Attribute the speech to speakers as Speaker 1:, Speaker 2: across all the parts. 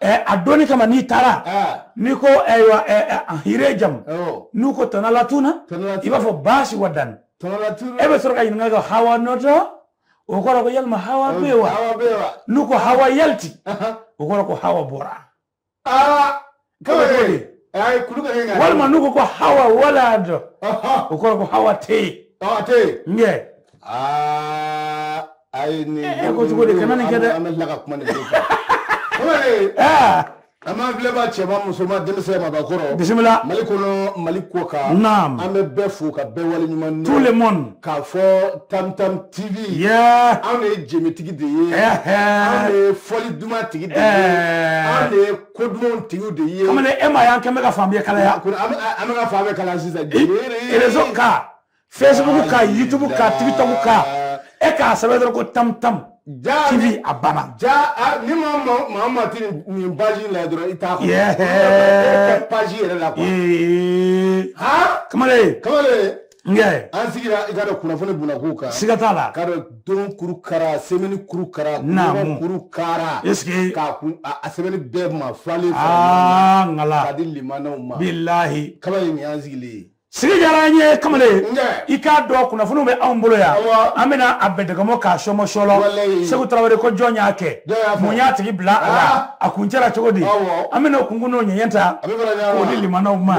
Speaker 1: a dɔnni kama n'i taara n'i ko ayiwa hire jamu n'u ko tanalatuna i b'a fɔ baasi wadanni e bɛ sɔrɔ k'a ɲininka ka hawa nɔtɔ o kɔrɔ ko yalima hawa bɛ yen wa n'u ko hawa yaliti o kɔrɔ ko hawa
Speaker 2: bɔra walima n'u ko ko hawa
Speaker 1: wala dɔ o kɔrɔ ko hawa tɛ yen n kɛ
Speaker 2: ayi ni e ko cogo de kana nin
Speaker 1: kɛ dɛ an bɛ tila ka kuma
Speaker 2: nin ko kan an b'an filɛbaa cɛman musoman denmisɛn mabakɔrɔ bisimila mali kɔnɔ
Speaker 1: mali
Speaker 2: kɔkan naam an bɛ bɛɛ fo
Speaker 1: ka bɛɛ
Speaker 2: waleɲumandɔn tout le monde k'a
Speaker 1: fɔ
Speaker 2: tam tam tv yeah. anw de ye jenbetigi de ye anw de ye fɔli duman tigi de ye anw de ye ko dumanw tigiw de ye kamalen e m'a y'an kɛn bɛ ka
Speaker 1: fan bɛɛ kalaya an bɛ ka fan bɛɛ
Speaker 2: kalaya sisan réseau
Speaker 1: kan facebook kan youtube kan tiktok kan e k'a sɛbɛn dɔrɔn ko tam tam tv a banna ja a- ni
Speaker 2: maa maa- maa ma ti nin- nin page in la dɔrɔn i t'a Yeah. kɔnɔ page yɛrɛ la kuwa Ee, ha kamalen
Speaker 1: kamalen nkɛ an sigira i k'a
Speaker 2: dɔn kunnafoni bunako kan siga t'a la k'a
Speaker 1: dɔn don
Speaker 2: kuru kara semɛni kuru kara Naamu. ɲɔgɔn kuru kara Est-ce que- k'a
Speaker 1: kun a a sɛbɛnni
Speaker 2: bɛɛ ma falen falen aa k'a ngala
Speaker 1: di limanaw
Speaker 2: ma bilahi kamalen
Speaker 1: nin y'an sigilen
Speaker 2: ye sigi diyara an
Speaker 1: ye kamalen i k'a dɔn kunnafoniw bɛ anw bolo yan an bɛna a bɛdɛgɛmɔ k'a sɔmɔsɔlɔ segu tarawele ko jɔn y'a kɛ mun y'a tigi bila a la a kuncɛra cogo di an bɛna o kunkun n'o ɲɛɲɛ ta k'o di limanaw ma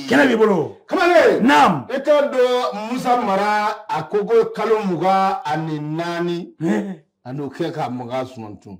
Speaker 1: kɛnɛ b'i bolo kamalen
Speaker 2: naam i
Speaker 1: k'a
Speaker 2: dɔn musa mara a ko ko kalo mugan ani naani an'o kɛ ka makan suman tun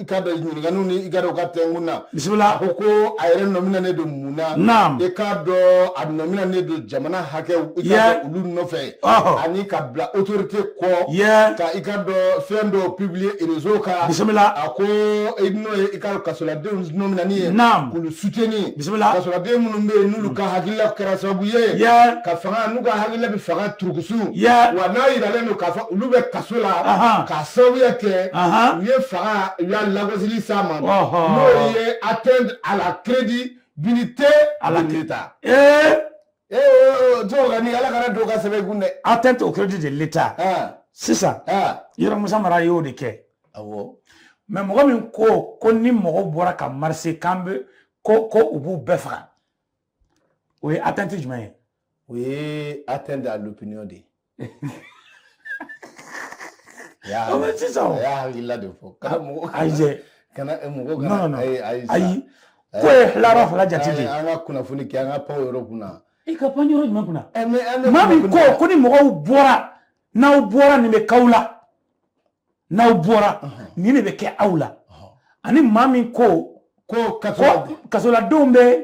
Speaker 2: i k'a dɔn ɲininkaliw ni i k'a dɔn ka tɛnkun na bisimila a ko
Speaker 1: ko a
Speaker 2: yɛrɛ nɔminanen don mun na naam i k'a
Speaker 1: dɔn
Speaker 2: a nɔminanen don jamana hakɛw i k'a dɔn olu nɔfɛ ani ka bila autorité kɔ ka i k'a dɔn fɛn dɔw publier réseau kan bisimila a ko n'o ye i ka kasoladenw nɔminani ye naam k'olu soutenir bisimila kasoladen
Speaker 1: minnu bɛ
Speaker 2: yen n'olu ka hakilila kɛra sababu ye ka fanga n'u ka hakilila bɛ fanga turukusu wa n'a yiralen don k'a fɔ olu bɛ kaso la k'a sababuya kɛ u ye fanga u y'a lagosili s'a ma n'o ye atteindre à la crédibilité à l'État Ee to ka
Speaker 1: ni ala kana don ka sɛbɛn kun dɛ atteinte au crédit de l'État sisan yɔrɔ musa mara y'o de kɛ mais mɔgɔ min ko ko ni mɔgɔw bɔra ka marcher kan bɛ ko ko u b'u bɛɛ faga o ye atteinte jumɛn ye o ye
Speaker 2: atteinte à l'opinion de ye
Speaker 1: sisan a y'a hakilila de fɔ kana
Speaker 2: mɔgɔ ayi
Speaker 1: kana mɔgɔ kana ayi ayi ayi ko ye tilara fila jate de an ka kunnafoni kɛ an
Speaker 2: ka pan yɔrɔ kunna i ka pan yɔrɔ jumɛn
Speaker 1: kunna maa min ko ko ni mɔgɔw bɔra n'aw bɔra nin bɛ k'aw la n'aw bɔra nin de bɛ kɛ aw la ani maa min ko ko kasoladenw bɛ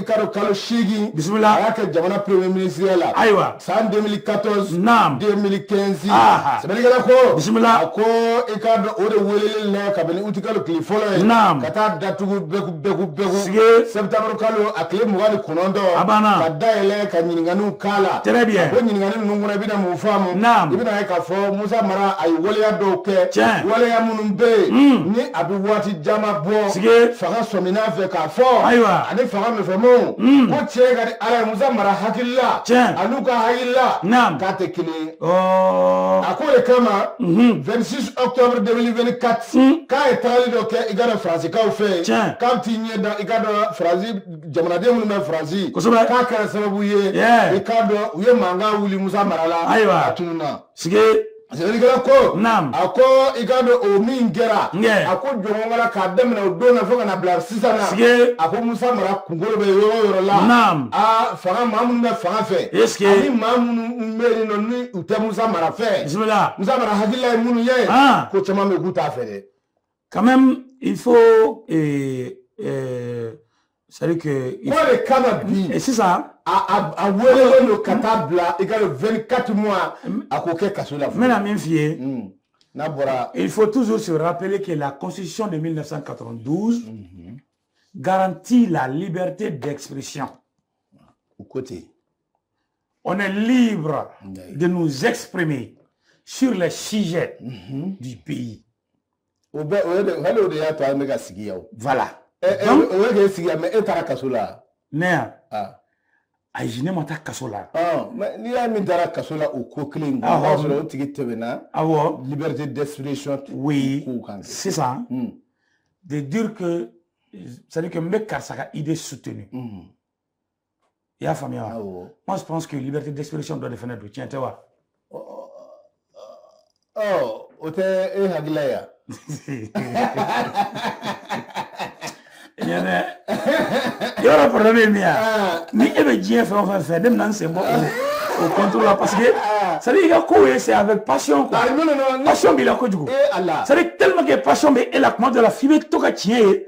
Speaker 2: kalo kalo seegin bisimila a y'a kɛ jamana
Speaker 1: premier
Speaker 2: ministre la ayiwa san 2014 naam 2015
Speaker 1: sɛbɛnnikɛla
Speaker 2: ko bisimila a ko
Speaker 1: i k'a
Speaker 2: dɔn o de weleli la kabini uti kalo tile fɔlɔ ye naam ka taa datugu bɛku bɛku bɛku sige septembre
Speaker 1: kalo a
Speaker 2: tile mugan ni kɔnɔntɔn a banna ka dayɛlɛ
Speaker 1: ka
Speaker 2: ɲininkaniw k'a la très bien o ɲininkani ninnu
Speaker 1: kɔnɔ i bɛna
Speaker 2: mun faamu naam i bɛna ye k'a fɔ
Speaker 1: musa
Speaker 2: mara a ye waleya dɔw kɛ tiɲɛ waleya minnu
Speaker 1: bɛ yen
Speaker 2: hmm. ni a bɛ waati caman bɔ sige fanga
Speaker 1: sɔmina
Speaker 2: fɛ k'a fɔ ayiwa ani fanga
Speaker 1: min fɛ
Speaker 2: mo hmm. ko tiɲɛ ka di ala ye musa mara hakilila tiɲɛ an'u ka
Speaker 1: hakilila
Speaker 2: naam k'a tɛ kelen ye oh. a ko de kama 26 mhm. octobre 2024 hmm. k'a ye tagali dɔ kɛ i k'a dɔn faransikaw fɛ yen tiɲɛ k'a bɛ t'i ɲɛ
Speaker 1: da i
Speaker 2: k'a dɔn faransi jamanaden minnu bɛ faransi kosɛbɛ k'a kɛra sababu
Speaker 1: ye
Speaker 2: i k'a dɔn u ye mankan wuli musa mara la ayiwa o tuma na
Speaker 1: sike sɛbɛnnikɛla
Speaker 2: ko naam a ko
Speaker 1: i k'a
Speaker 2: dɔn o min kɛra a ko jɔn wɛrɛ k'a daminɛ o don na fo ka na bila sisan na sike a ko musa mara kunko bɛ yɔrɔ o yɔrɔ la naam aa fanga
Speaker 1: maa minnu
Speaker 2: bɛ fanga fɛ sike ani maa minnu bɛ yen nɔ ni u tɛ musa mara fɛ bisimila musa
Speaker 1: mara hakilila ye
Speaker 2: minnu ye ko caman bɛ k'u t'a fɛ dɛ quand même
Speaker 1: il faut euh, euh, c'est que ko de kama bi e sisan a
Speaker 2: weelelen don ka taa bila i ka 24 mois a k'o kɛ kaso la n bɛna min f'i ye hmm.
Speaker 1: n'a bɔra
Speaker 2: il faut toujours se
Speaker 1: rappeler que la constitution de 1992 mhm. garantit la liberté d'expression au
Speaker 2: côté on
Speaker 1: est libre de nous exprimer sur les sujets mhm. du pays o bɛ o ye de hali o de y'a to an bɛ ka sigi yan o. voilà. ɛ ɛ
Speaker 2: o ye k'e sigi yan mais e taara kaso la. ne yan.
Speaker 1: aa. ayi ne ma taa kaso la. mais n'i y'a min
Speaker 2: taara kaso la o ko kelen in kan. awɔ o b'a sɔrɔ o tigi tɛmɛna. awɔ liberté d'expression. oui kow
Speaker 1: kan. sisan. Hmm. de dire que c'est à dire que n bɛ karisa ka idée soutenu. Hmm. i y'a faamuya wa awɔ moi je pense que liberté d'expression dɔ de fana don tiɲɛ tɛ wa
Speaker 2: ɔ ɔ, ɔ, o tɛ e hakilila ye wa? tiɲɛ
Speaker 1: tɛ yɔrɔ problème ye min ye a? Ah, ni e bɛ diɲɛ fɛn o fɛn fɛ ne bɛna n sen bɔ o o contrôle la parce que c'est à dire i ka kow ye c'est avec passion quoi ah, non, non, non, ne- passion b'i la kojugu e Ala c'est à dire tellement que passion bɛ e la tuma dɔ la f'i bɛ to ka tiɲɛ ye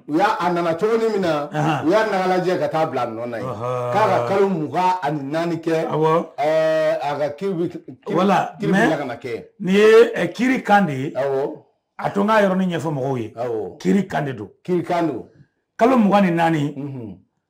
Speaker 2: u y'a a nana cogoni min na u y'a nagalajɛ ka taa bila a nɔ na yen k'a ka kalo mugan ani naani kɛ a
Speaker 1: ka
Speaker 2: kiri bɛ tila
Speaker 1: ka na
Speaker 2: kɛ nin ye eh,
Speaker 1: kiri kan de ye a to n
Speaker 2: k'a
Speaker 1: yɔrɔnin ɲɛfɔ mɔgɔw ye kiri kan de
Speaker 2: don kiri
Speaker 1: kan don
Speaker 2: kalo mugan ni
Speaker 1: naani mhm.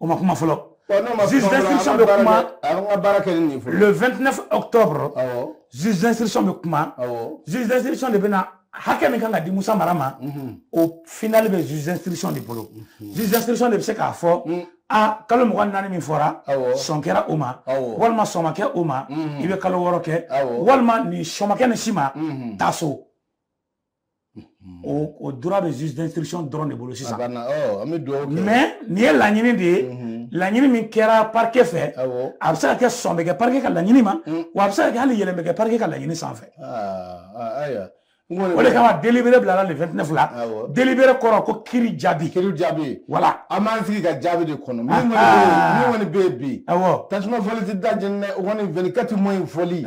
Speaker 1: o ma kuma fɔlɔ juge d'instruction bɛ kuma le 29 octobre juge d'instruction bɛ kuma juge d'instruction de bɛna hakɛ min kan ka di musa mara ma mhm. au final bɛ juge d'instruction de bolo mhm. juge d'instruction de bɛ se k'a fɔ mm. a kalo mugan naani min fɔra sɔn kɛra o ma walima sɔn ma kɛ o ma mhm. i bɛ kalo wɔɔrɔ kɛ walima ni sɔn ma kɛ ni si ma taa so o droit bɛ juge d'instruction dɔrɔn de bolo sisan mais nin ye laɲini de ye laɲini min kɛra parquet fɛ a bɛ se ka kɛ sɔn bɛ kɛ parquet ka laɲini ma wa a bɛ se ka kɛ hali yɛlɛn bɛ kɛ parquet ka laɲini sanfɛ o de kama délibéré bilara le 29 la délibéré kɔrɔ ko kiri jaabi kiri jaabi voilà an b'an sigi ka jaabi
Speaker 2: de kɔnɔ min kɔni bɛ yen bi tasuma fɔli tɛ da jeni dɛ o kɔni 24 mois in fɔli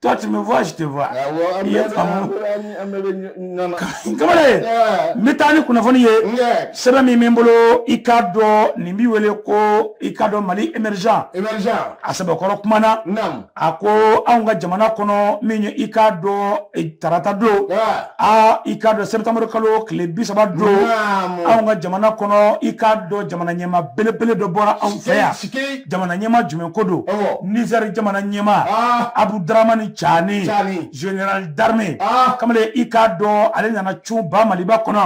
Speaker 2: toi tu me vois je
Speaker 1: te vois ah, i ye faamu kamalen ye n bɛ taa ni kunnafoni ye sɛbɛn min bɛ n bolo i k'a dɔn nin bɛ wele ko i k'a dɔn mali émergent a sɛbɛkɔrɔ kumana a ko anw ka jamana kɔnɔ min ye i k'a dɔn e, tarata don a i k'a dɔn septembre kalo tile bi saba don anw ka jamana kɔnɔ i k'a dɔn jamana ɲɛma belebele dɔ bɔra anw fɛ yan jamana ɲɛma jumɛn ko don nizɛri jamana ɲɛma ah. abudaramani cani général d'armée ah. kamalen i k'a dɔn ale nana cun ba maliba kɔnɔ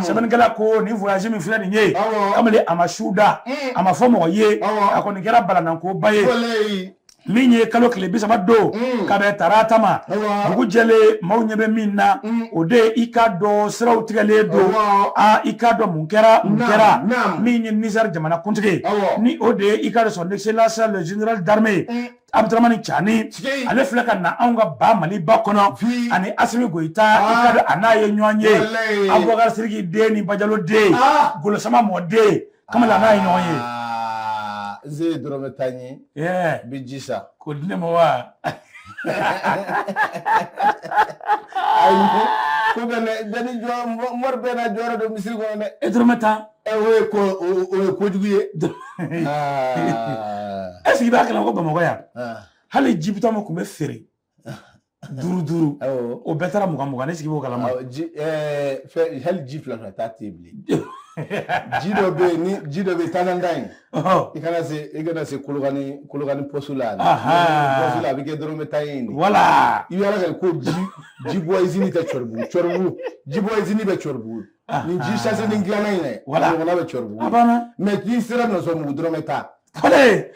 Speaker 1: sɛbɛnnikɛla ko nin voyage min filɛ nin ye kamalen a ma su da mm. a ma fɔ mɔgɔ ye a kɔni kɛra balanankoba ye min ye kalo tile bi saba don mm. ka bɛn tarata ma dugu jɛlen maaw ɲɛ bɛ min na mm. o de ye i k'a dɔn siraw tigɛlen don a i k'a dɔn Mun kɛra mun kɛra min ye nizɛri jamana kuntigi ni o de ye i k'a dɔn son excellence le général d'armée abudaramani cani ale filɛ ka na anw ka ba maliba kɔnɔ ani asimi goyita i k'a dɔn a n'a ye ɲɔgɔn ye abubakari siriki den ni bajaloden golo sama mɔden kamalen a n'a ye ɲɔgɔn ye n
Speaker 2: ye dɔrɔmɛ tan ye n bɛ ji san k'o di ne ma wa ayi ko bɛ ne dani jɔ mɔri bɛɛ n'a jɔyɔrɔ don misiri kɔnɔ dɛ e dɔrɔmɛ tan
Speaker 1: ɛ o ye
Speaker 2: ko o ye kojugu
Speaker 1: ye est-ce que i b'a kalama ko bamakɔ yan hali ji bidɔn min tun bɛ feere duuru duuru o bɛɛ taara mugan mugan ne sigi b'o
Speaker 2: kalama hali ji fila fila ta tɛ yen bilen ji dɔ bɛ yen ni ji dɔ bɛ yen taanan in i kana se i kana se kolokani kolokani pɔsi la pɔsi la a bɛ kɛ dɔrɔmɛ tan ye wala i b'a
Speaker 1: kɛ ko
Speaker 2: ji ji bɔ izini tɛ cɔribugu cɔribugu ji bɔ izini bɛ cɔribugu ni ji sase ni dilanna in dɛ wala ɲɔgɔnna bɛ cɔribugu a banna mɛ k'i sera nɔsɔnbugu dɔrɔmɛ tan kɔlɛ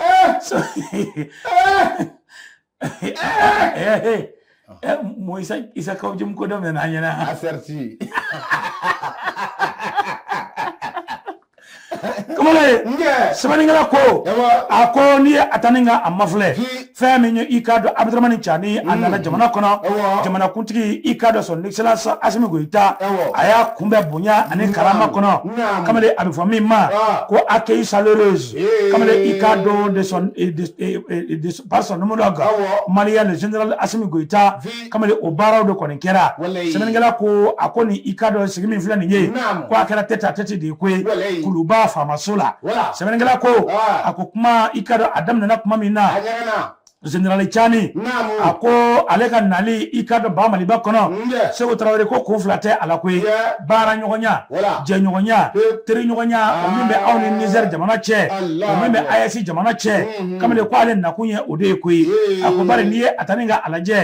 Speaker 1: mooy sa isa kaw jëm ko dem ne naa ñene aserti kamalen sɛbɛnnikɛla ko a ko n'i ye a ta ni ka a mafilɛ fɛn min ye i k'a dɔn abudramani cani a nana jamana kɔnɔ jamanakuntigi i k'a dɔn son excellence asimi goyita a y'a kunbɛn bonya ani karama kɔnɔ kamalen a bɛ fɔ min ma ko accueil chaleureux kamalen i k'a dɔn de son par son homologue malien le général asimi goyita kamalen o baaraw de kɔni kɛra sɛbɛnnikɛla ko a ko nin i ka dɔn sigi min filɛ nin ye ko a kɛra tête-à-tête de ye koyi kuluba faamaso la sɛbɛnnikɛla ko a ko kuma i ka dɔn a daminɛna kuma min na Zenerali Cani a ko ale ka nali i ka dɔn ba Maliba kɔnɔ Seku Tarawele ko kun fila tɛ a la koyi baara ɲɔgɔnya jɛɲɔgɔnya teri ɲɔgɔnya o min bɛ aw ni Nizɛri jamana cɛ o min bɛ AES jamana cɛ. kamalen ko ale nakun ye o de ye koyi a ko bari n'i ye a ta ni ka a lajɛ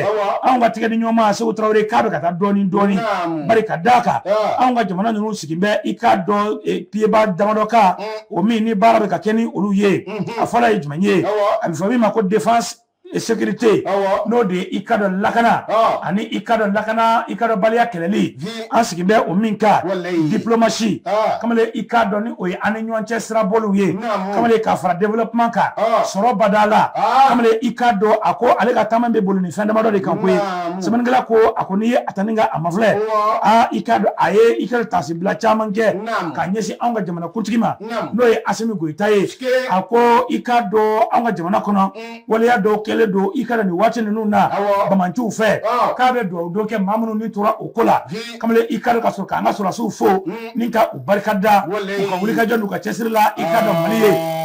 Speaker 1: anw ka tɛgɛdiɲɔgɔnma seku tarawele k'a bɛ ka taa dɔɔnin dɔɔnin bari ka d'a kan anw ka jamana ninnu sigi bɛ i k'a dɔn e, piyeba damadɔ kan o min ni baara bɛ ka kɛ ni olu ye a fɔlɔ ye jumɛn ye a bɛ fɔ min ma ko défense sécurité n'o de ye i ka dɔn lakana ani i ka dɔn lakana i ka dɔn baliya kɛlɛli an sigi bɛ o min kan diplomasi kamalen i k'a dɔn ni o ye an ni ɲɔgɔn cɛ sirabolo ye kamalen k'a fara développement kan sɔrɔ bada la kamalen i k'a dɔn a ko ale ka taama bɛ boli nin fɛn damadɔ de kan koyi sɛbɛnnikɛla ko a ko n'i ye a ta ni ka a mafilɛ aa i k'a dɔn a ye i k'a dɔn taasibila caman kɛ ka ɲɛsin anw ka jamanakuntigi ma n'o ye asimi goyita ye a ko i k'a dɔn an ka jamana kɔnɔ waleya dɔw kɛlen don i k'a dɔn nin waati ninnu na banbaanciw fɛ k'a bɛ dugawu don kɛ maa minnu ni tora o ko la kamalen i k'a dɔn ka sɔrɔ k'an ka sɔrɔdasiw fo ni ka u barika da u ka wulikajɔ n'u ka cɛsiri la i ka dɔn mali ye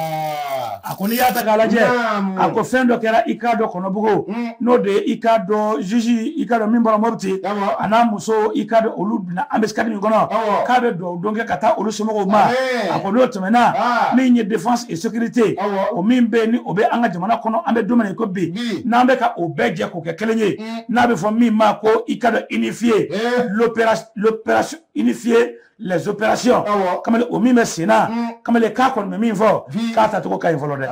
Speaker 1: a ko n'i y'a ta k'a lajɛ a ko fɛn dɔ kɛra i k'a dɔn kɔnɔbugu n'o de ye i k'a dɔn juge i ka dɔn min bɔra mɔti a n'a muso i k'a dɔn olu na an bɛ sari min kɔnɔ k'a bɛ dugawu don kɛ ka taa olu somɔgɔw ma a ko n'o tɛmɛna min ye défense et sécurité o min bɛ ni o bɛ an ka jamana kɔnɔ an bɛ don min na i ko bi n'an bɛ ka o bɛɛ jɛ k'o kɛ kelen ye n'a bɛ fɔ min ma ko i ka dɔn unifier unifier les opérations kamalen o min bɛ senna kamalen k'a kɔni bɛ min fɔ k'a tacogo ka ɲi fɔlɔ dɛ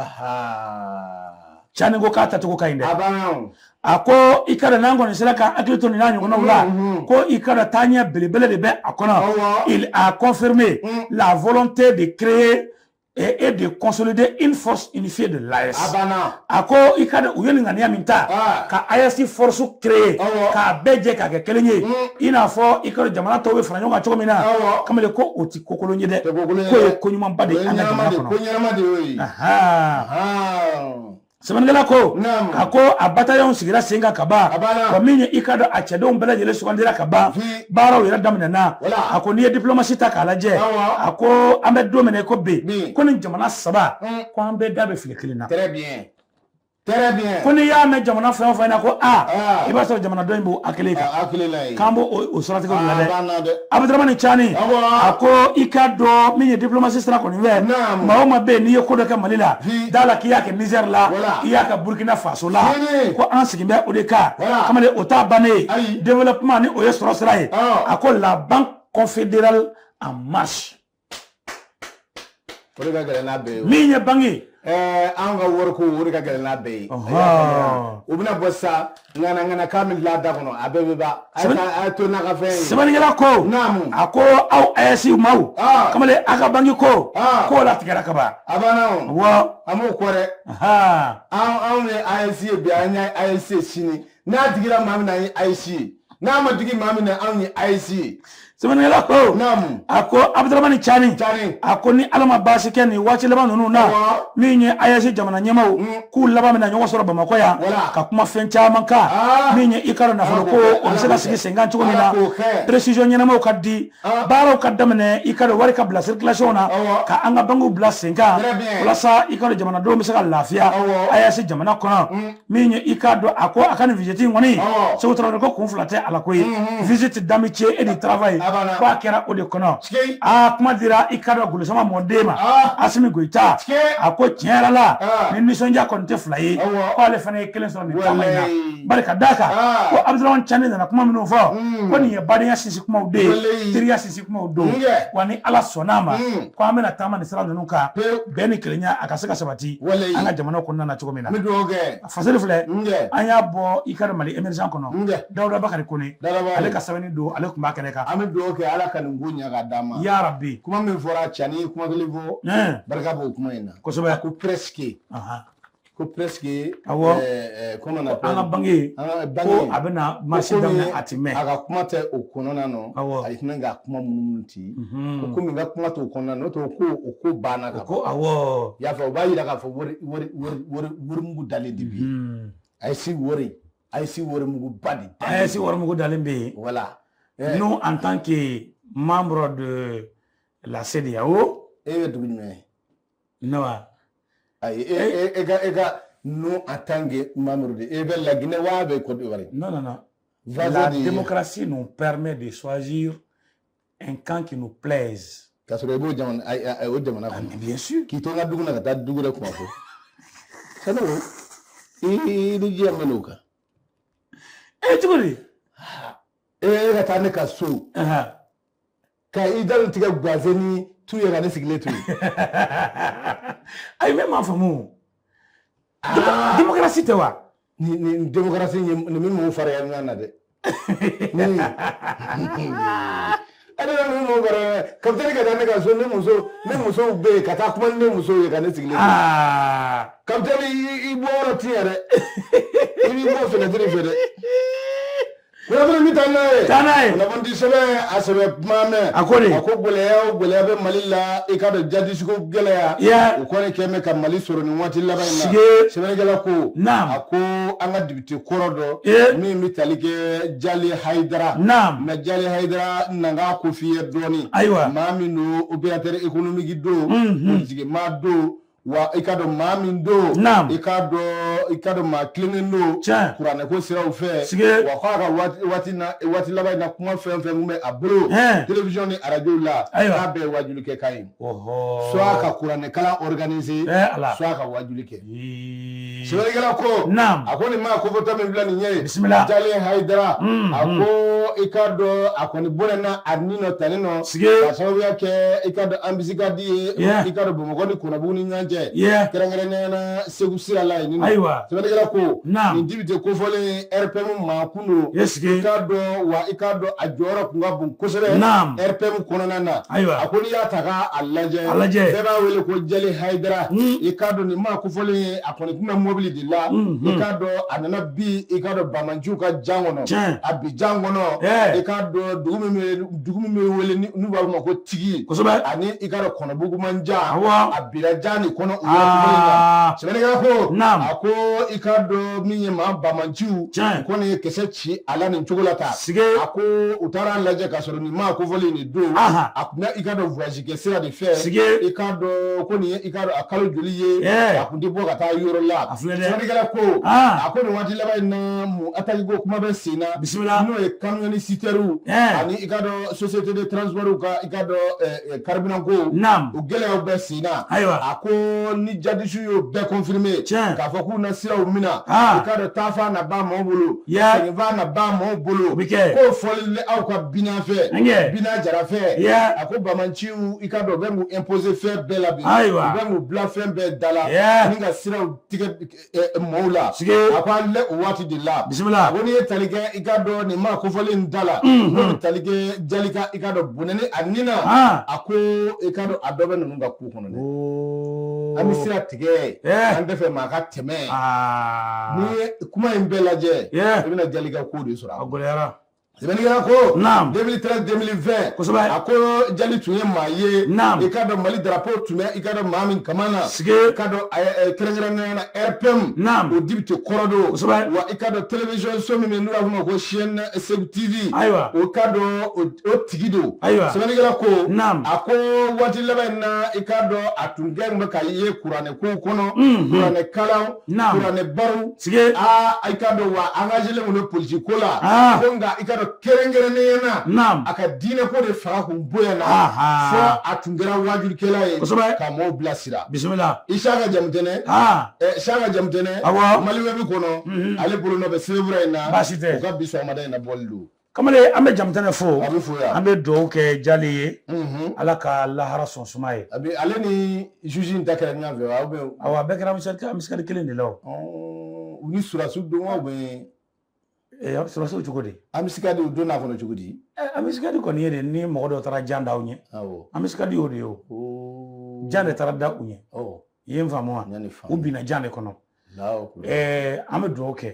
Speaker 1: cani ko k'a tacogo ka ɲi dɛ a ko i k'a dɔn n'an kɔni sera ka hakili to nin n'a ɲɔgɔnnaw la ko i k'a dɔn taaɲɛ belebele de bɛ a kɔnɔ il a confirmé la volonté de créer et, et de consolider une force unifiée de l'AES. A ko i k'a dɔn u ye nin ŋaniya min ta ka AES force créer k'a bɛɛ jɛ k'a kɛ kelen ye i n'a fɔ i k'a dɔn jamana tɔw bɛ fara ɲɔgɔn kan cogo min na kamalen ko o ti ko kolon ye dɛ k'o ye ko ɲumanba de ye an ka jamana kɔnɔ. sɛbɛnnikɛla ko Naamu. a ko a bataillon sigira sen kan ka ban A banna. wa min ye i k'a dɔn a cɛdenw bɛɛ lajɛlen sugandira ka ban Fi- baaraw yɛrɛ daminɛna Wala. a ko n'i ye diplomasi ta k'a lajɛ Awɔ. a ko an bɛ don min na i ko bi Bi. ko nin jamana saba Mm. ko an bɛɛ da bɛ file kelen na Très
Speaker 2: bien. Très bien. ko n'i y'a mɛn jamana
Speaker 1: fɛn o fɛn na ko a Ah. i b'a sɔrɔ jamana dɔ in b'o hakili kan A hakili la ye. k'an b'o o- o siratigɛ ninnu na Aa, dɛ b'an na dɛ. abudaramani cani Awɔ. a ko i k'a dɔn min ye diplomasi sira kɔni fɛ Naamu. maa o maa bɛ yen n'i ye ko dɔ kɛ mali la Hi. d'a la k'i y'a kɛ nizɛri la Wala. i y'a kɛ burkina faso la Tiɲɛni. ko an sigi bɛ o de kan Wala. kamalen o t'a bannen ye Ayi. développement ni o ye sɔrɔ sira ye Awɔ. a ko la banque confédérale en marche O de ka gɛlɛn n'a bɛɛ ye o. Min ye banki ye. Ɛɛ anw
Speaker 2: ka wariko o de ka gɛlɛn n'a bɛɛ ye. Ɔhɔn. U bɛna bɔ sisan ŋana ŋana k'a bɛ dilan a da kɔnɔ a bɛɛ bɛ ban. A ye Sɛbɛnni- taa- a ye to n'a ka fɛn ye. Sɛbɛnnikɛla ko.
Speaker 1: Naamu. A ko aw ayɛsi maaw. Aa. Kamalen a ka banki ko. Aa. K'o latigɛra ka ban. A banna o. Awɔ.
Speaker 2: An b'o kɔ
Speaker 1: dɛ.
Speaker 2: Ahan. Anw anw ye AES ye bi an ye AES ye sini n'a digira maa min na an ye ayɛsi ye n'a ma digi maa min na anw ye ayɛsi ye sɛbɛnnikɛla ko
Speaker 1: naamu a ko abudaramani cani cani a ko ni ala ma baasi kɛ nin waati laban ninnu na Awɔ. min ye ayɛsi jamana ɲɛmaw Mm. k'u laban bɛna ɲɔgɔn sɔrɔ bamakɔ yan Wala. ka kuma fɛn caman kan Ah. min ye i k'a dɔn nafolo Ala ko k'o kɛ, o bɛ se ka Ala sigi k'o kɛ. senkan cogo min na Ala k'o kɛ. précision ɲɛnamaw ka di Ah. baaraw ka daminɛ i k'a dɔn wari ka bila circulation na Awɔ. ka an ka bankiw bila senkan Très bien. walasa i k'a dɔn jamanadenw bɛ se ka lafiya Awɔ. ayɛsi jamana kɔnɔ min ye i k'a dɔn a ko a ka nin visite in kɔni seku tarawele ko kun fila tɛ a la ko visite d'amitié et de travail ko a kɛra o de kɔnɔ aa kuma dira i k'a dɔn golosama mɔden ma asimi goyita a ko tiɲɛ yɛrɛ la ni nisɔndiya kɔni tɛ fila ye ko ale fana ye kelen sɔrɔ nin taama in na bari ka d'a kan ko abudaramani cani nana kuma minnu fɔ ko nin ye badenya sinsin kumaw de ye teriya sinsin kumaw don wa ni ala sɔnna a ma mm. ko an bɛna taama ni sira ninnu kan bɛn ni kelenya a ka se ka sabati an ka jamanaw kɔnɔna na cogo min na fasiri filɛ an y'a bɔ i k'a dɔn mali emergent kɔnɔ dawuda bakari kone ale ka sɛbɛnni don ale tun b'a kɛnɛ kan an bɛ dugawu kɛ ala ka
Speaker 2: nin ko ɲɛ ka d'a ma ya rabi kuma min
Speaker 1: fɔra cani
Speaker 2: kuma kelen fɔ barika b'o kuma in na kosɛbɛ ko presque ko presque
Speaker 1: awɔ comment on appelle an ka banki ko a bɛna marché daminɛ a ti mɛn a ka kuma tɛ
Speaker 2: o kɔnɔna na awɔ a tɛna ka kuma minnu ti ko komi n ka kuma t'o kɔnɔna na n'o tɛ ko o ko banna ka ko awɔ y'a
Speaker 1: fɔ o b'a yira k'a
Speaker 2: fɔ wari wari wari wari wari mugu dalen de bi AES wari AES wari mugu ba de AES wari mugu
Speaker 1: dalen bɛ yen voilà
Speaker 2: nous en tant
Speaker 1: que membre de la CEDEAO e bɛ dugu jumɛn na wa ayi e eh. e e
Speaker 2: ga e ga nous en tant que membres de e bɛ la Guinée wa e bɛ Côte d'Ivoire non non non
Speaker 1: la démocratie nous permet de choisir un camp qui nous plaise k'a sɔrɔ i b'o
Speaker 2: jamana a o
Speaker 1: jamana kɔnɔ ah, bien sûr k'i to n ka dugu la ka
Speaker 2: taa dugu dɔ kuma fɔ sani o i ni diɲɛ mɛn o kan
Speaker 1: e cogo di
Speaker 2: e ka taa ne ka so ka i dantigɛ gaze ni tu ye ka ne sigilen to
Speaker 1: yen ayi ne m'a faamu ah. démocratie tɛ wa nin démocratie
Speaker 2: nin min m'o fara ɲɔgɔn na dɛ ale bɛ min mɔgɔ kɔrɔ kapitɛni ka taa ne ka so ne muso ne musow bɛ yen ka taa kuma ni ne musow ye ka ne sigilen to kapitɛni i bɔ yɔrɔ ti yɛrɛ i b'i bɔ fenɛtiri fɛ dɛ Kunnafoni bɛ taa n'a ye. Taa n'a ye. Kunnafoni de sɛbɛn a sɛbɛn ma mɛn. A ko de. A ko gɛlɛya o gɛlɛya bɛ Mali la i k'a dɔn jadisiko gɛlɛya. Yaa. O kɔni kɛlen bɛ ka Mali sɔrɔ nin waati laban in na. Sigee. Sɛbɛnnikɛla ko. Naamu. A ko an ka dibite kɔrɔ dɔ. Ee. Min bɛ tali kɛ Jali Hayidara. Naamu. Mais Jali Hayidara na n k'a ko f'i ye dɔɔnin. Ayiwa. Maa min don opérateur économique don. Unhun. Politigimaa don. wa i k'a dɔn maa min don i k'a dɔn i k'a dɔn maa tilennen don kuranɛ ko siraw fɛ wa ko a ka waati na waati laban in na kuma fɛn fɛn min bɛ a bolo television ni arajo la k'a bɛɛ ye wajuli kɛ kan ye soit ka kuranɛ kalan organiser soit ka wajuli kɛ Sɛbɛnnikɛla ko naam a ko nin maa kofɔtɔ min filɛ nin ye bisimila jali hayidara mm, a mm. ko i k'a dɔn a kɔni bɔnɛna a ni nɔ tali nɔ sige ka sababuya kɛ i k'a dɔn embuscade ye yeah. i k'a dɔn bamakɔ ni kɔnɔbugu ni ɲɔgɔn cɛ yeah. kɛrɛnkɛrɛnnenya na segu sira la yen ayiwa sɛbɛnnikɛla ko naam nin dibite kofɔlen rpm maa tun don est ce que i k'a dɔn wa i k'a dɔn a jɔyɔrɔ tun ka bon kosɛbɛ Naam. RPM kɔnɔna na Ayiwa. a ko n'i y'a ta k'a a lajɛ A lajɛ. bɛɛ b'a wele ko jali hayidara Mm. i k'a dɔn nin maa kofɔlen ye a kɔni tun bɛ mobili de la Mm, i mm. k'a dɔn a nana bin i k'a dɔn banbaanciw ka jan kɔnɔ Tiɲɛ. a bin jan kɔnɔ Eh. i k'a dɔn dugu min bɛ dugu min bɛ wele ni- n'u b'a fɔ a ma ko tigi Kosɛbɛ. ani i k'a dɔn kɔnɔbugu man jan Awɔ. a binna jan de kɔnɔ u ye dumuni na. Aa. sɛbɛnnikɛla ko Naam. a ko i k'a dɔn min ye maa banbaanciw Tiɲɛ. kɔni ye kisɛ ci a la nin cogo la tan Sige. a ko u taara a lajɛ k'a sɔrɔ nin maa kofɔlen nin don Aha. a tun bɛ i k'a dɔn voyage Tigɛ sira de fɛ sike i k'a dɔn ko nin ye i k'a dɔn a kalo joli ye Ɛɛ a kun tɛ bɔ ka taa yɔrɔ la a filɛ dɛ sɛbɛnnikɛla ko aɔn a ko nin waati laban in naamu attaque ko kuma bɛ sen na bisimila n'o ye camion citerne u Ɛɛ ani i k'a dɔn société de transport u ka i k'a dɔn ɛ ɛ carburant ko naam o gɛlɛyaw bɛ sen na ayiwa a ko ni jadisiw y'o bɛɛ confirmer tiɲɛ k'a fɔ k'u na siraw mina i aa k'a dɔn taafan na ban maaw bolo yaa seginfan na ban maaw o bolo be kɛ k'o fɔli le aw ka Bina fɛ ɛnkɛ Bina Jara fɛ yaa a ko banbaanciw i ka dɔn bɛ mun imposer fɛn bɛɛ la bi ayiwa bɛ mun bila fɛn bɛɛ da la ni ka siraw tigɛ mɔgɔw la a ko an lɛ o waati de la bisimila ko n'i ye tali kɛ i ka dɔn nin maa kofɔlen da la n'o bɛ tali kɛ jali ka i ka dɔn bɔnɛni a ni na a ko i ka dɔn a dɔ bɛ ninnu ka ko kɔnɔ dɛ an bɛ sira tigɛ an tɛ fɛ maa ka tɛmɛ n'i ye kuma in bɛɛ lajɛ i bɛna jali ka ko de sɔrɔ a gɛlɛyara Sɛbɛnnikɛla ko, naamu, 2013 2020 kosɛbɛ, a ko Jali tun ye maa ye, naamu, i k'a dɔn Mali drapeau tun bɛ i k'a dɔn maa min kaman na, sike, i k'a dɔn a ye kɛrɛnkɛrɛnnenya la RPM, naamu, o député kɔrɔ don, kosɛbɛ, wa i k'a dɔn télévision so min bɛ yen n'u b'a f'o ma ko chaîne Segu TV, ayiwa, o i k'a dɔn o tigi don, ayiwa, sɛbɛnnikɛla ko, naamu, a ko waati laban in na i k'a dɔn a tun kɛlen bɛ ka i ye kuranɛ ko kɔnɔ kuranɛ kalan kuranɛ baro i ka dɔn wa a engagélen politiki ko la ko nka i ka dɔn kɛrɛnkɛrɛnnenya na a ka diinɛ ko de fanga kun bonyana fo a tun kɛra wajulikɛla ye ka mɔɔw bilasira bisimila Isaka Jamutɛnɛ Isaka Jamutɛnɛ Maliwɛbi kɔnɔ ale bolo nɔ bɛ sɛbɛnfura in na baasi tɛ u ka bi sɔgɔmada in na bɔli don kamalen an bɛ
Speaker 1: jamutɛnɛ fo A bɛ fo yan. an bɛ dugawu kɛ jali ye Mhm. ala ka lahara sɔn suma ye A bɛ ale
Speaker 2: ni juge in ta kɛra ɲɔgɔn fɛ wa? Ou bien- awa a bɛɛ kɛra
Speaker 1: embuscade kelen de la o Ɔɔ, u ni
Speaker 2: sɔrɔdasiw don wa? Ou bien- Eh, a
Speaker 1: bɛ sɔrɔdasiw cogo di embuscade u donna
Speaker 2: a kɔnɔ cogo di? Eh, embuscade kɔni
Speaker 1: ye de ni mɔgɔ dɔ taara jan da aw ɲɛ Awɔ. embuscade y'o de ye o Ɔɔ. jan de taara da u ɲɛ Ɔɔ, i ye n faamu wa n y'a ni faamu. u binna jan de kɔnɔ an bɛ dugawu kɛ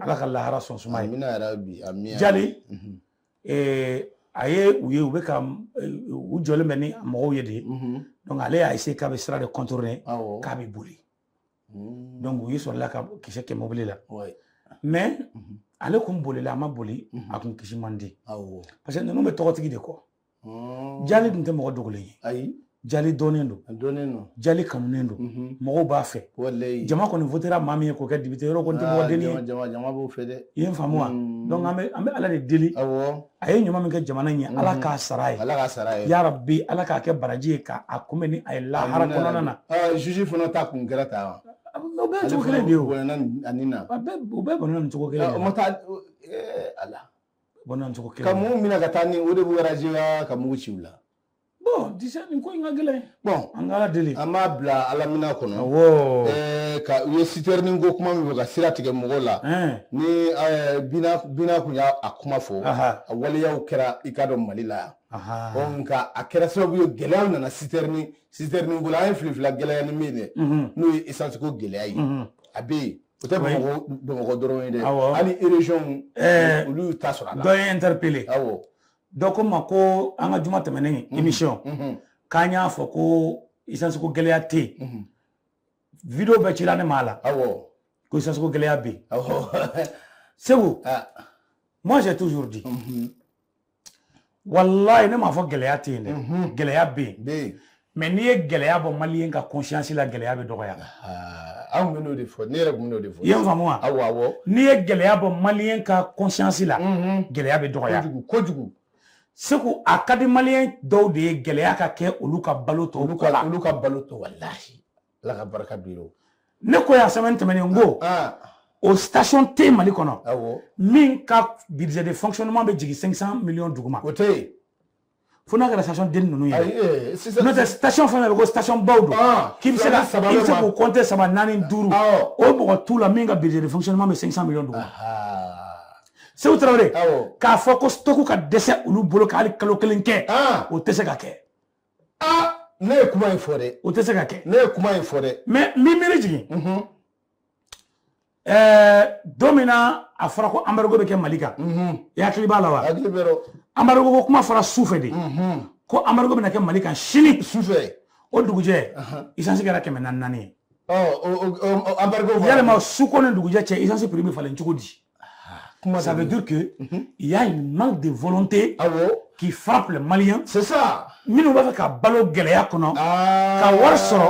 Speaker 1: ala ka lahara sɔn suma
Speaker 2: ye
Speaker 1: jali a ye u ye u bɛ ka u jɔlen bɛ ni mɔgɔw ye de dɔnku ale y'a essayer k'a bɛ sira de contourner k'a bɛ boli dɔnku u y'i sɔrɔla ka kisɛ kɛ mobili la mɛ ale kun bolila a ma boli a kun kisi man di parce que ninnu bɛ tɔgɔtigi de kɔ Hmm. Jali tun tɛ mɔgɔ dogolen ye. Ayi. Jali dɔnnen don. A dɔnnen don. Jali kanunen don. Unhun. Mɔgɔw b'a fɛ. Walayi. Jama kɔni votéra maa min ye k'o kɛ député ye yɔrɔ o kɔni tɛ mɔgɔ dennin ye. Aa jama jama b'o fɛ dɛ.
Speaker 2: I ye n faamu wa? Unhun.
Speaker 1: Donc an bɛ an bɛ Ala de deli. Awɔ. A ye ɲuman min kɛ jamana in ye. Unhun. Ala k'a sara a ye. Ala k'a sara a ye. Yarabi Ala k'a kɛ baraji ye ka a kunbɛn ni a ye lahara kɔnɔna na. Amina yarabi. Ɔ juge fana ta kun
Speaker 2: kɛra tan wa? O bɛɛ ye cogo
Speaker 1: kelen de ye o. Ale fana bɔnɛna a nin na. A bɛɛ u bɛɛ bonna nin cogo kelen de la. Ɔ o ma taa ɛɛ Ala.
Speaker 2: bɔn
Speaker 1: cogo kelen ka mun minɛ ka taa ni
Speaker 2: o de b'u raziya ka mugu ci u la bɔn
Speaker 1: disa nin ko in ka gɛlɛn bɔn an ka ala deli an b'a bila ala
Speaker 2: minan kɔnɔ awɔ ɛɛ ka u ye sitɛrinin ko kuma min fɔ ka sira tigɛ mɔgɔw la ni ɛɛ bina bina kun y'a a kuma fɔ a waleyaw kɛra i k'a dɔn mali la yan bɔn nka a kɛra sababu ye gɛlɛyaw nana sitɛrinin sitɛrinin ko la an ye filifila gɛlɛya ni min ye dɛ n'o ye esansi ko gɛlɛya ye a bɛ yen O tɛ bamakɔ dɔrɔn ye dɛ hali irezɔn olu y'u ta sɔrɔ a la dɔ ye n interpellé
Speaker 1: dɔ ko n ma ko an ka juma tɛmɛnen émission k'an y'a fɔ ko isansi ko gɛlɛya tɛ yen video bɛɛ cira ne ma la aw ko isansi ko gɛlɛya bɛ yen segu moi j'ai toujours dit walayi ne m'a fɔ gɛlɛya tɛ yen dɛ mhm. gɛlɛya bɛ yen mɛ n'i ye gɛlɛya bɔ maliɲɛ ka kɔnsiyansi la gɛlɛya bɛ dɔgɔya ah, anw
Speaker 2: b'o de fɔ ne yɛrɛ tun b'o de fɔ i ye n faamu wa awɔ awɔ
Speaker 1: n'i ye gɛlɛya bɔ maliɲɛ ka kɔnsiyansi la mhm. gɛlɛya bɛ dɔgɔya kojugu
Speaker 2: kojugu segu a
Speaker 1: ka di maliɲɛ dɔw de ye gɛlɛya ka kɛ olu ka balo tɔ olu ka balo
Speaker 2: tɔ walahi ala ka barika bi ne ko yan
Speaker 1: semaine tɛmɛnen n ko ah, ah. o station tɛ mali kɔnɔ min ka budget de fonctionnement bɛ jigin 500 millions duguma o tɛ
Speaker 2: yen fo n'a
Speaker 1: kɛra station den ninnu ye eh, n'o tɛ station fɛn fɛn bɛ ko station baw don ah, k'i bɛ se ka i bɛ se k'u compter saba naani duuru o mɔgɔ t'u la min ka budget de fonctionnement bɛ 500 millions duguma segu tarawele k'a fɔ ko stock ka dɛsɛ olu bolo ka hali kalo kelen kɛ o tɛ se ka kɛ
Speaker 2: aa ne ye kuma in fɔ dɛ o tɛ se ka kɛ ne
Speaker 1: ye kuma in fɔ
Speaker 2: dɛ mɛ n b'i miiri
Speaker 1: jigin mhm. ɛɛ don min na a fɔra ko anbarigo bɛ kɛ mali kan mhm. i hakili b'a la wa hakili b'a rɔ
Speaker 2: anbarigo ko kuma
Speaker 1: fɔra su fɛ de mhm. ko anbarigo bɛna kɛ mali kan sini su fɛ
Speaker 2: o
Speaker 1: dugujɛ isansi kɛra kɛmɛ naani naani ye
Speaker 2: anbarigo yalima su
Speaker 1: ko ni dugujɛ cɛ isansi piri bɛ falen cogo di Ah, Comment ça veut dire que mhm. il y a une manque de volonté ah qui frappe les Maliens. C'est ça. Minnu
Speaker 2: b'a fɛ ka balo
Speaker 1: gɛlɛya kɔnɔ. Ah. Ka wari sɔrɔ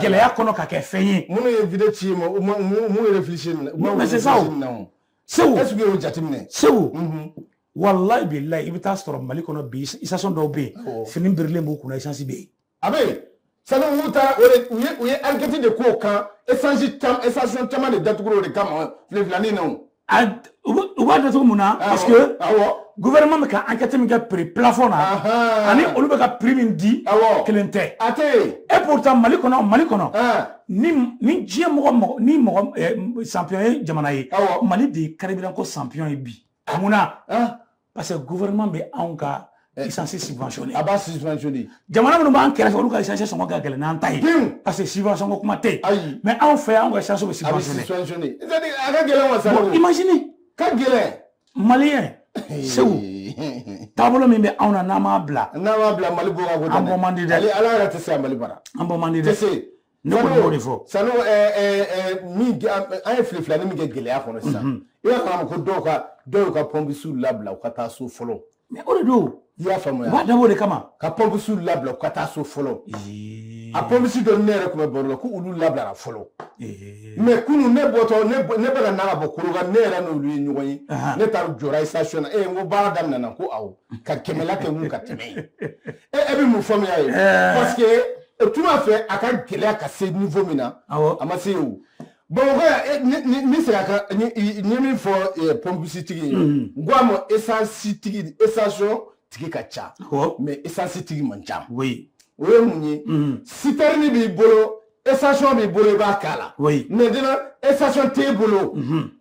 Speaker 1: gɛlɛya kɔnɔ ka kɛ fɛn ye. Minnu ye video ci n
Speaker 2: ma u ma mun ye réfléchir minɛ. Mais c'est ça
Speaker 1: o. Segu. Est-ce que y'o
Speaker 2: jateminɛ? Segu. Mhm.
Speaker 1: Walayi bilayi i bɛ taa sɔrɔ Mali kɔnɔ bi station dɔw bɛ yen fini birilen b'u kunna essence bɛ yen. a bɛ
Speaker 2: yen sani olu taara o de u ye u ye enquête de k'o kan esansi caman esansi caman de datugura o de kama filifilani na o. a u bɛ- u b'a
Speaker 1: datugu mun na parce que awɔ gouvernement bɛ ka enquête min kɛ prix plafond na Ahan. ani olu bɛ ka prix min di Awɔ. kelen tɛ a tɛ yen et pourtant mali kɔnɔ mali kɔnɔ ɛɛ ni ni diɲɛ mɔgɔ mɔgɔ ni mɔgɔ eh, champion ye jamana ye Awɔ. mali de ye carburant ko champion ye bi mun na ɛɛ parce que gouvernement bɛ anw ka eh. essence subventionné a b'a
Speaker 2: subventionné jamana minnu b'an
Speaker 1: kɛrɛfɛ olu ka essence sɔngɔ ka gɛlɛn n'an ta ye parce que subvention ko kuma tɛ yen mais anw fɛ anw ka essence bɛ subventionné a ka
Speaker 2: gɛlɛn wa bon imagine
Speaker 1: ka
Speaker 2: gɛlɛn maliyɛn
Speaker 1: eh. segu taabolo min bɛ anw na n'an m'a bila n'an m'a bila mali bɔ ka ko
Speaker 2: an bɔ man di dɛ ala
Speaker 1: yɛrɛ tɛ se ka mali
Speaker 2: baara an bɔ man di dɛ
Speaker 1: ne kɔni b'o de
Speaker 2: fɔ sanu min an ye fili fila ni min kɛ gɛlɛya kɔnɔ sisan i y'a faamu ko dɔw ka dɔw y'u ka pɔnpisiw labila u ka taa so fɔlɔ o de don
Speaker 1: i y'a faamuya u b'a dabɔ
Speaker 2: o de kama ka
Speaker 1: pɔnpisiw labila
Speaker 2: u ka taa so fɔlɔ a pɔnpisi dɔ ne yɛrɛ tun bɛ baro la ko olu labilara fɔlɔ mais kunun ne bɔtɔ ne bɛ ka na ka bɔ koroka ne yɛrɛ n'olu ye ɲɔgɔn ye ne taara jɔra station na e n ko baara daminɛna ko awɔ ka kɛmɛla kɛ mun ka tɛmɛ ye e e bɛ mun faamuya ye parce que o tuma fɛ a ka gɛlɛya ka se niveau min na a ma se o bamakɔ yan n bɛ segin a kan n ye min fɔ pɔnpisi tigi ye n ko a ma esansi tigi station tigi ka ca mais esansi tigi man ca o ye mun ye sitɛrini b'i bolo station b'i bolo i b'a k'a la maintenant station t'e bolo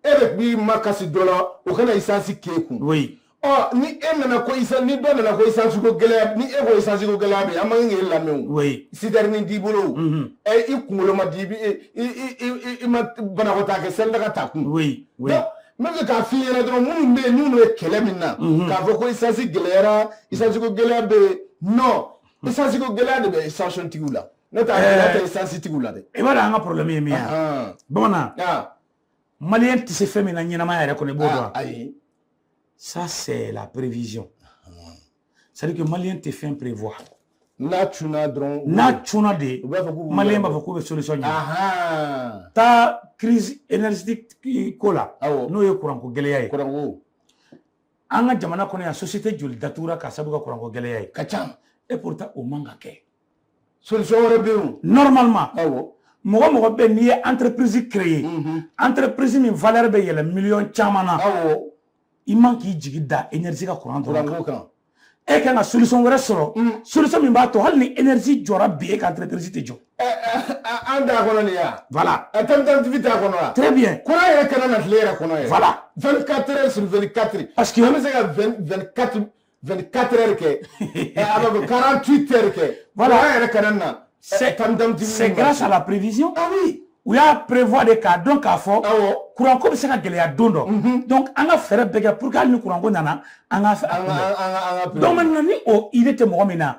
Speaker 2: e de b'i makasi dɔ la o ka na esansi k'e kun ɔ ni e nana ko isa ni dɔ nana ko isansi ko gɛlɛya ni e ko isansi ko gɛlɛya bɛ yen an man kan k'e lamɛn o oui sitɛrini t'i bolo o Mhm. ɛ i kunkolo ma di i bi- i i i- i i- i ma banakɔtaa kɛ selidaga ta kun oui oui Donc, n bɛ fɛ k'a f'i ɲɛna dɔrɔn minnu bɛ yen n'u bɛ kɛlɛ min na Mhm. k'a fɔ ko isansi gɛlɛyara isansi ko gɛlɛya bɛ yen non isansi ko gɛlɛya de bɛ station tigiw la ne t'a Eh. gɛlɛya tɛ isansi tigiw la dɛ i b'a dɔn an ka problème ye min ye
Speaker 1: Ahan. bamanan Ah. maliyɛn tɛ se fɛn min na ɲɛnamaya yɛrɛ kɔnɔ i b'o dɔn ayi ça c'est la prévision c'est à dire que maliyɛn tɛ fɛn prévoir n'a
Speaker 2: cunna dɔrɔn n'a cunna de
Speaker 1: maliyɛn b'a fɔ k'u bɛ solution ɲini taa crise énergétique ko la n'o ye kuranko gɛlɛya ye kuranko an ka jamana kɔnɔ yan société joli datugura ka sababu kɛ kuranko gɛlɛya ye ka ca et pourtant
Speaker 2: o man
Speaker 1: ka kɛ
Speaker 2: solution wɛrɛ bɛ yen normalement
Speaker 1: awɔ mɔgɔ mɔgɔ bɛ n'i ye entreprise créer entreprise min valeur bɛ yɛlɛ miliyɔn caman na awɔ i man k'i jigi da énergie ka courant dɔrɔn kan e kan ka solution wɛrɛ sɔrɔ solution min b'a to hali ni énergie jɔra bi e ka entreprise tɛ jɔ
Speaker 2: an t'a kɔnɔ nin ya voilà alternative
Speaker 1: t'a kɔnɔ
Speaker 2: wa très bien courant yɛrɛ kana
Speaker 1: na tile yɛrɛ
Speaker 2: kɔnɔ yɛrɛ voilà 24 heures
Speaker 1: sur 24
Speaker 2: Parce que- an
Speaker 1: bɛ se
Speaker 2: ka 20 24 24 heures kɛ eh, a bɛ 48 heures kɛ voilà kuran yɛrɛ kana na c'est eh,
Speaker 1: grâce à la prévision ah oui u y'a
Speaker 2: prévoir
Speaker 1: de k'a dɔn k'a fɔ kuranko bɛ se ka gɛlɛya don dɔ mhm. donc an ka fɛɛrɛ bɛɛ kɛ pour que hali ni kuranko nana an ka se k'a kunbɛn donc maintenant ni o idée tɛ mɔgɔ min na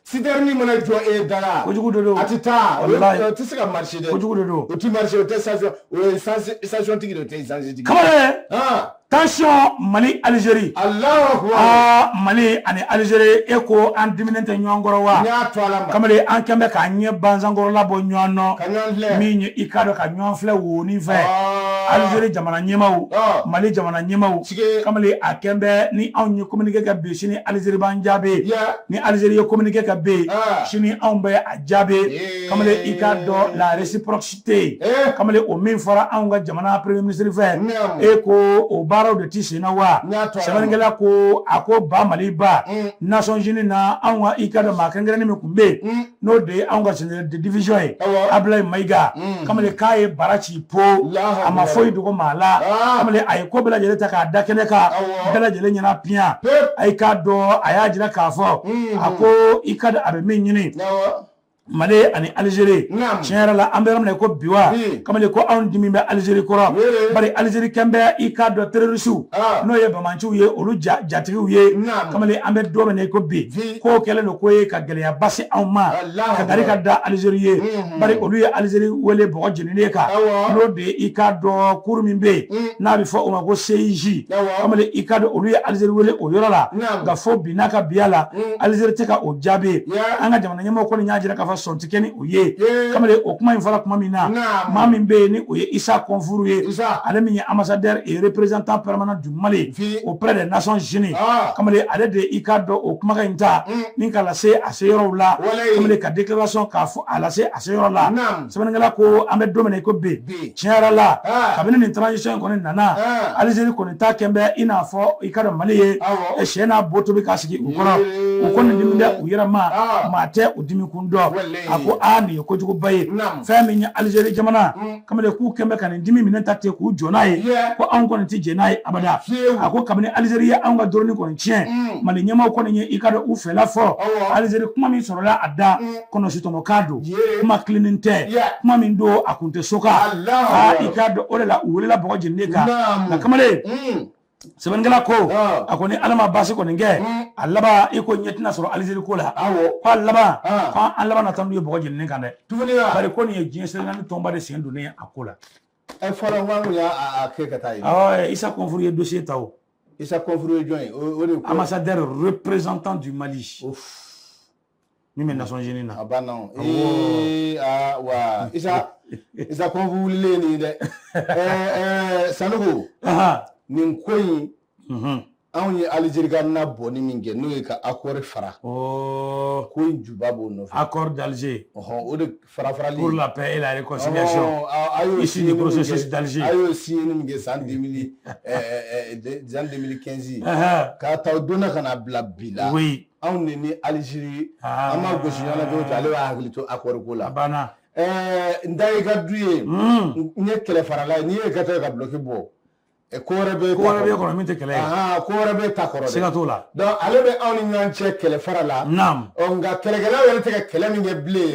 Speaker 2: sitɛrɛni mana jɔ e dara kojugu de don a tɛ
Speaker 1: taa o tɛ
Speaker 2: se ka marcher dɛ kojugu de don o tɛ marcher
Speaker 1: o
Speaker 2: tɛ station o ye station tigi de o tɛ sansi tigi kamalen
Speaker 1: tansiyɔn mali alizeri aa
Speaker 2: mali ani
Speaker 1: alizeri e ko an diminen tɛ ɲɔgɔn kɔrɔ wa kamalen an kɛlen bɛ k'an ɲɛ bansankɔrɔla bɔ ɲɔgɔn nɔ min ye i k'a dɔn ka ɲɔgɔn filɛ woni fɛ alizeri jamana ɲɛmaw mali jamana ɲɛmaw tigɛ kamalen a kɛlen bɛ ni anw ye kominike kɛ bi sini alizeri b'an jaabi ni alizeri ye kominike kɛ bi ah. sini anw bɛ a jaabi eh. kamalen i k'a dɔn la réciprocité eh. kamalen o min fɔra anw ka jamana premier ministre fɛ e ko o baaraw de tɛ senna wa sɛbɛnnikɛla ko a ko ba mali ba mm. Nations Unies na anw ka i ka dɔn maa kɛrɛnkɛrɛnnen min tun bɛ yen mm. n'o de ye anw ka général de division ye Abulayi Mayiga mm. kamalen k'a ye bara ci po a ma foyi dogo maa la ah. kamalen a ye ko bɛɛ lajɛlen ta k'a da kɛnɛ kan bɛɛ lajɛlen ɲɛna piyan a y'i k'a dɔn a y'a jira k'a fɔ mm. a ko i ka a bɛ min ɲini mali ani alizeri tiɲɛ yɛrɛ la an bɛ yɔrɔ min na ko bi wa kamalen ko anw dimi bɛ alizeri kɔrɔ bari alizeri kɛn bɛ i k'a dɔn terorisiw ah. n'o ye bamanciw ye olu jatigiw ye kamalen an bɛ don min na ko bi k'o kɛlen don k'o ye ka gɛlɛya basi anw ma ka gari ka da alizeri ye mhm. bari olu ye alizeri wele bɔgɔ jeninen kan n'o de ye i ka dɔn cour min bɛ yen mhm. n'a bɛ fɔ o ma ko CIJ kamalen i ka dɔn olu ye alizeri wele o yɔrɔ la nka fo bi n'a ka biya la mhm. alizeri tɛ ka o jaabi an ka jamana ɲɛmɔgɔ kɔni y'a jira k'a fɔ sɔn tɛ kɛ ni o ye kamalen o kuma in fɔra tuma min na maa min bɛ yen ni o ye isa kɔnfuru ye ale min ye ambassadeur et représentant permanent Mali auprès des Nations Unies kamalen ale de i ka dɔn o kumakan in ta ni k'a lase a se yɔrɔw la kamalen ka déclaration k'a fɔ a lase a se yɔrɔ la sɛbɛnnikɛla ko an bɛ don min na i ko bi tiɲɛ yɛrɛ la kabini nin transition in kɔni nana alizeri kɔni ta kɛn bɛ i n'a fɔ i ka dɔn mali ye sɛ n'a bo tobi k'a sigi u kɔrɔ u kɔni dimi bɛ u yɛrɛ ma maa tɛ u dimi kun dɔn a ko aa nin ye kojuguba ye fɛn min ye alizeri jamana kamalen k'u kɛn bɛ ka nin dimi minɛ ta ten k'u jɔ n'a ye ko anw kɔni tɛ jɛn n'a ye abada a ko kabini alizeri ye anw ka dɔrɔni kɔni tiɲɛ mm. mali ɲɛmaw kɔni ye i ka dɔn u fɛla fɔ alizeri kuma min sɔrɔla a da mm. kɔnɔsitɔmɔkan don kuma tilennen tɛ kuma min don a kun tɛ so kan i k'a dɔn o de la u welela bɔgɔ jeninen kan nka kamalen mm. sɛbɛnnikɛla ko a ko ni ala ma baasi kɔni kɛ a laban i ko ɲɛ tɛna sɔrɔ alizeri ko la ko a laban ko an laban na taa n'u ye bɔgɔ jeninen kan dɛ bari ko nin ye diɲɛ seleke naani tɔnba de sen donnen a ko la fɔlɔ n
Speaker 2: k'an kun y'a kɛ ka taa yen isa kɔnfuru ye
Speaker 1: dosiye ta o isa kɔnfuru ye
Speaker 2: jɔn ye o de ko ambassadeur représentant
Speaker 1: du mali min bɛ nations unies na a banna
Speaker 2: ee aa wa isa isa kɔnfu wulilen nin dɛ ɛɛ ɛɛ sanɔgɔ nin ko in mhm. anw ye alizeri ka na bɔni min kɛ n'o ye ka akɔri fara oh. ko in juba b'o nɔfɛ akɔri
Speaker 1: d'Alger ɔhɔn o de
Speaker 2: fara farali pour la paix et
Speaker 1: la réconciliation a y'o issu du processus d'Alger a y'o signé ni min kɛ
Speaker 2: san 2000 ɛɛ san 2015 k'a ta o don na ka na bila bi la oui anw de ni aliziri an ma gosi ɲɔgɔn na cogo cogo ale b'a hakili to akɔri ko la n da i ka du ye n ye kɛlɛfarala ye n'i ye ka taa ka duloki bɔ ko wɛrɛ bɛ ko wɛrɛ b'i kɔnɔ min tɛ kɛlɛ
Speaker 1: ye ko wɛrɛ bɛ ta
Speaker 2: kɔrɔ siga t'o la
Speaker 1: ale bɛ anw
Speaker 2: ni ɲɔgɔn cɛ kɛlɛ fara la nka
Speaker 1: kɛlɛkɛlaw
Speaker 2: yɛrɛ tɛ ka kɛlɛ min kɛ bilen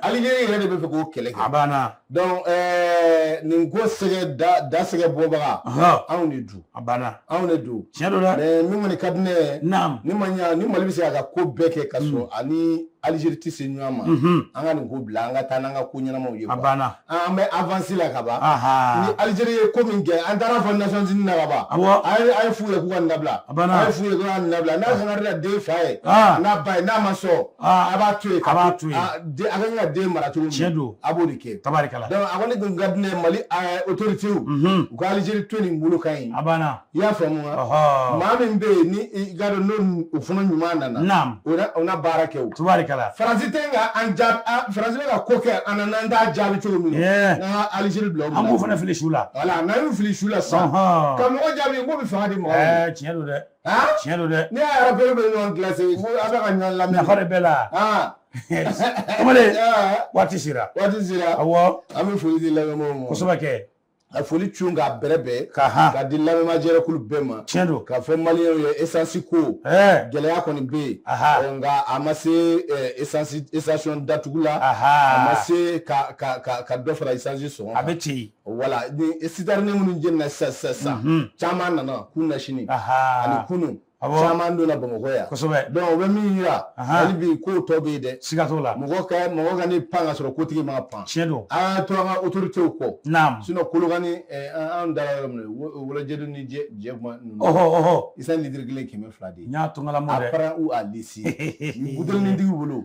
Speaker 2: aliziri yɛrɛ de b'a fɛ k'o kɛlɛ kɛ a banna
Speaker 1: donc
Speaker 2: eh, nin ko sɛgɛ da da sɛgɛ bɔbaga Ɔhɔ. anw de don a banna anw de
Speaker 1: don tiɲɛ
Speaker 2: don dɛ mais min kɔni
Speaker 1: ka di ne ye
Speaker 2: naam ni ma ɲa
Speaker 1: ni mali bɛ
Speaker 2: se k'a ka ko bɛɛ kɛ ka sɔrɔ a ni alizeri tɛ se ɲɔgɔn ma Mhm. an ka nin ko bila an ka taa n'an ka ko ɲɛnamaw ye a quoi. banna an
Speaker 1: bɛ avansi
Speaker 2: la ka ban ni aha alizeri ye ko min kɛ an taar'a fɔ nations unies na ka ban awɔ a ye a y'a f'u ye k'u ka nin dabila A banna. a y'a f'u ye k'u ka nin dabila n'a sɔnna de la den fa ye Ah. n'a ba ye n'a ma sɔn A b'a to a b'a to a b'a ka den mara cogo cɛ dɔn a b'o de
Speaker 1: kɛ
Speaker 2: tabarikala a kɔni
Speaker 1: dun ka
Speaker 2: di ne mali otorite w ka alizri to nin bolo kan yen a banna i y'a faamu maa min bɛ yen ni gadɔ n' u fana ɲuman nana u
Speaker 1: na baara
Speaker 2: kɛ tabarikala
Speaker 1: faransi tɛ
Speaker 2: ka an jaabi faransi ka ko kɛ an na an t'a jaabi cogo min na alizri bila an b'o fana fili su la
Speaker 1: wala n'an y'o fili su
Speaker 2: la sa ka mɔgɔ jaabi ko bɛ fanga di mɔgɔ tiɲɛ don dɛ
Speaker 1: tiɲɛ don dɛ ne y'a yɛrɛ bɛɛ bɛ
Speaker 2: ɲɔgɔn kilase ko a bɛ ka ɲɔgɔn lamɛn nafa de b'a
Speaker 1: la kamalen waati sera waati sera awɔ an bɛ foli di
Speaker 2: lamɛnbaaw ma kosɛbɛ kɛ
Speaker 1: a foli cun
Speaker 2: k'a bɛrɛ bɛɛ ka han ka di lamɛnbaa jɛrɛkulu bɛɛ ma tiɲɛ don k'a fɔ
Speaker 1: maliyɛnw
Speaker 2: ye esansi ko gɛlɛya kɔni bɛ yen nka a ma se esansi esitasiyɔn datugu la a ma se ka ka ka dɔ fara esansi sɔngɔ kan a bɛ ten wala sitɛrini minnu jenina sisan sisan sisan mhm. caman nana kunasini ani kunu caman donna bamakɔ yan kosɛbɛ donc o bɛ min yira hali bi k'o tɔ bɛ yen dɛ siga t'o la mɔgɔ ka
Speaker 1: mɔgɔ
Speaker 2: kana pan ka sɔrɔ kotigi ma pan tiɲɛ don an ka to an
Speaker 1: ka
Speaker 2: autorité w kɔ naam sinon kolokani eh, an dara yɔrɔ min wolojɛdu ni jɛ jɛ kuma ninnu ɔhɔ ɔhɔ esansi litiri kelen kɛmɛ fila de ye n y'a to n ka lamɔ dɛ a para
Speaker 1: ou a lisi
Speaker 2: butelinin tigi bolo